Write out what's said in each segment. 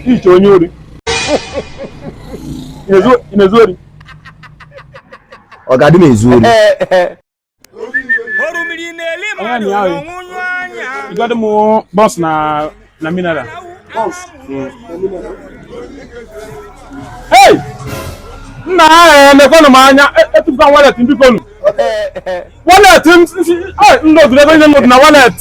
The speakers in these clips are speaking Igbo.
iche onye ori ị na-ezu ori ọga adị m ezu ori ịgadị m buns na na mineral Hey! nna nekwanụ m anya etụpụta wallet m bikonu wallet ndị o zuru ebe niile nọdụ na wallet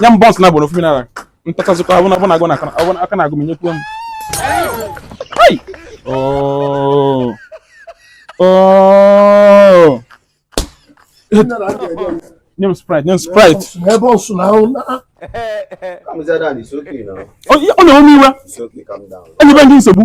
nye m buns na gboro ofu mineral m tachazikwa abụ na abụ na agụụ na aka na-agụ m nyekwuo m oh. Oh. nye m sprite nye m sprite ọ na-ewe m iwe enyebe m gị nsogbu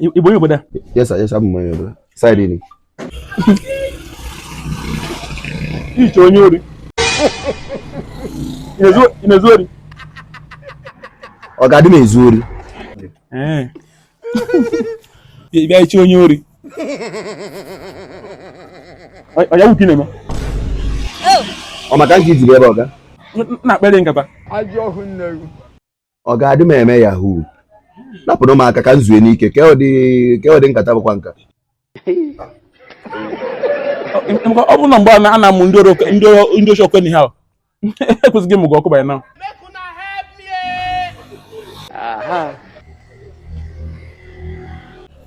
Ị bụ onye obodo? Yes sir, yes sir, abụ m onye obodo. Side ni. Iche onye ori. Ị na-ezu ori? Ọga adị m ezu ori. Ee. Bịa iche onye ori. Ọ yahoo ka ị na-eme? Ọ maka nke i ji ebe ọ ga? Na-akpere nkata. Ajọ ọhụụ nne ọga adị m eme yahoo napụrụ m aka ka m zue n'ike ka ọ dị nkata bụkwa nka ọ bụrụ na mgbe a na-amụ ndị oshi ọkụ n'ahịa e kwesịrị ịmụ gị ọkụ by now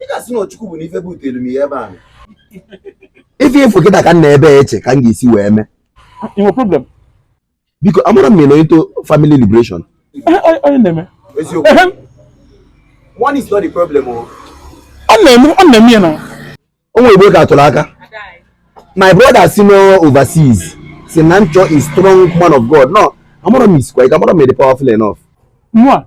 ị ga-asị na ọ Chukwu bụ na ife butere m ya ebe a ife ị fụ kịta ka m nọ ebe eche ka m ga-esi wee mee i nwe problem because amara m nọ into family liberation onye na-eme eziokwu money is not the problem o oh. ọ na-eme ọ na-eme ya na onwe igbo ka atụrụ aka my brother si n'overseas sị na m chọọ strong man of god no amara m isikwa ike amara m dị powerful enough nwa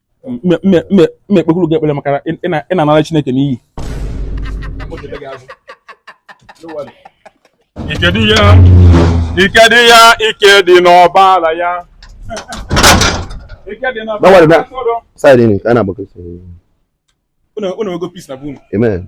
m ekpekwuru gị ekpere maka ị na-anara Chineke n'iyi ike dị ya ike dị ya ike dị n'ọbara ya ike dị n'ọbara ya side nke a na-agbakọsị unu ego peace na bụ unu